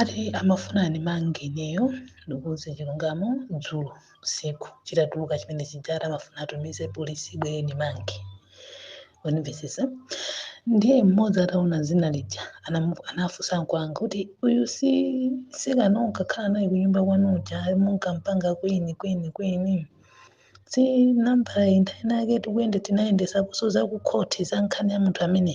Ati amafuna andimange ineyo ndikuuze chilungamo dzulo usiku chitatuluka chimene chija ati amafuna atumize polisi ibwere indimange wandimvetsetsa ndiye mmodzi ataona dzina lija anamu- anafunsa ankolo anga kuti uyu si mtsikana unkakhala naye kunyumba kwanu uja munkampanga kwini kwini kwini si nambala inthawi nake tikuyende tinayendesaponso za kukhoti za nkhani ya munthu amene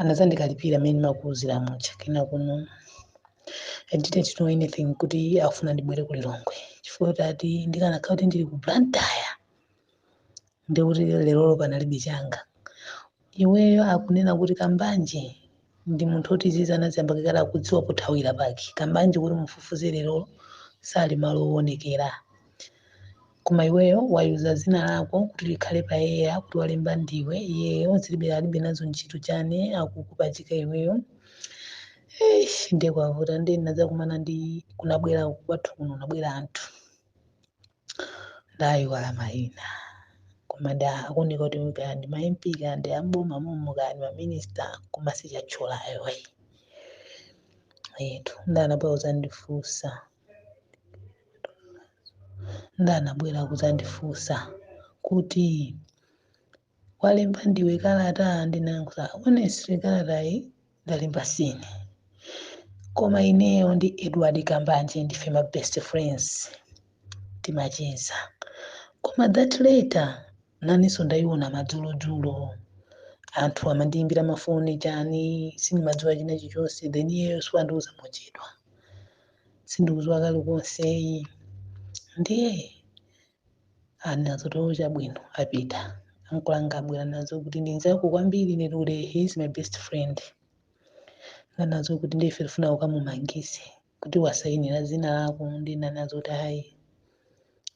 anazandikalipira mmene ndimakuuzira muja koma kuno I didn't know anything kuti afuna ndibwere ku Lilongwe chifukwa tati ndikanakhala kuti ndili ku Blantyre ndikuti lerolo panalibe changa iyeyo akunena kuti kambanje ndi munthu oti izizi anaziyamba kalekale akudziwa pothawira pake kambanje kuti mufufuze lerolo sali malo owonekera koma iweyo wayika dzina lako kuti likhale pa eya kuti walemba ndiwe iyeyo alibe alibe nazo ntchito chani akukupachika iweyo Eish, ndiye kwavuta ndiye ndinadzakumana ndi kunabwera kwathu kuno kunabwera anthu ndayiwala mayina koma ndi akuoneka kuti kaya ndi ma MP kaya ndi amboma momo kaya ndi maminista koma sindiwatchula ayi eti nde anabwera kudzandifunsa nde anabwera kudzandifunsa kuti walemba ndiwe kalata ndinayankha honestly kalatayi ndalemba sine koma ineyo ndi edward kambanje ndife ma best friends timacheza koma that letter nanenso ndayiona madzulodzulo anthu amandiyimbira mafoni chani sindimadziwa china chilichonse then iyeyo so wandiuza mochedwa sindikudziwa kalikonse ayi ndiye anadzati oo chabwino apita ankolo anga abwera anadzati ndi nzako kwambiri ine kuti he is my best friend nde anadzati ndiye ife tifuna ukamumangise kuti wasayinira dzina lako nde ndinadzati ayi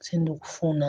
sindikufuna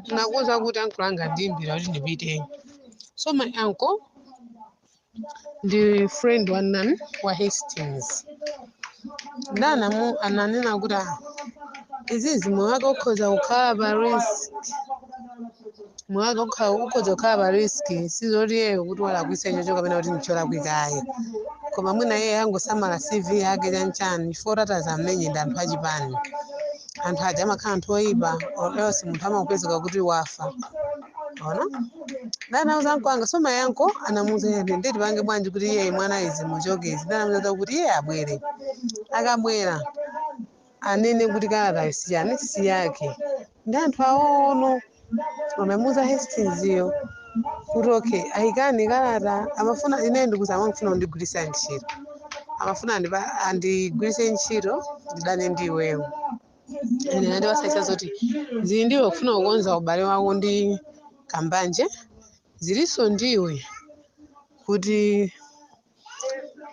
ndinakuuza kuti ankolo anga andiimbira kuti ndipiteyo so my uncle ndi friend wa ujeni wa hastings nde anamu- ananena kuti "Ah, izizi moyo wake ukhoza kukhala pa risk moyo wake ukha- ukhoza kukhala pa risk sizoti iyeyo kuti walakwitsa ichocho kapena kuti ndicholakwikayo koma mwina iye angosamala cv yake chanchani chifukwa kuti atadzamenyedwa ndi anthu achipani anthu aja amakhala anthu oyipa or else munthu amangopezeka kuti wafa ona nde anauza ankolo anga so my uncle anamuuza iye kuti nde tipange bwanji kuti iye mwana izi umuchotse nde anamuuza kuti iye abwere akabwera anene kuti kalatayo siyani siyake ndi anthu awono amamuza Hastings yo kuti okay ayikani kalata amafuna ine ndikuza amafuna kundigwiritsa ntchito amafuna andipa- andigwiritse ntchito ndidane ndi iweyo ine nandiwasayisa zoti zili ndiwe kufuna kukonza ubale wako ndi Kambanje zilinso ndiwe kuti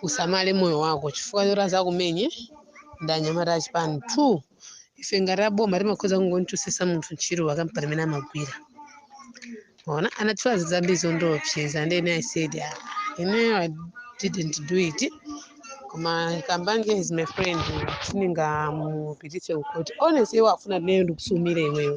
usamale moyo wako chifukwa choti azakumenye ndi anyamata achipani two ife ngati aboma timakhoza kungonchosesa munthu ntchito pakampani imene amagwira onse anatchula zambiri zondiopseza and then i said "Ah, ineyo i didn't do it koma Kambanje is my friend siningamupitise kukhoti honestly iwo afuna ineyo ndikusumire iweyo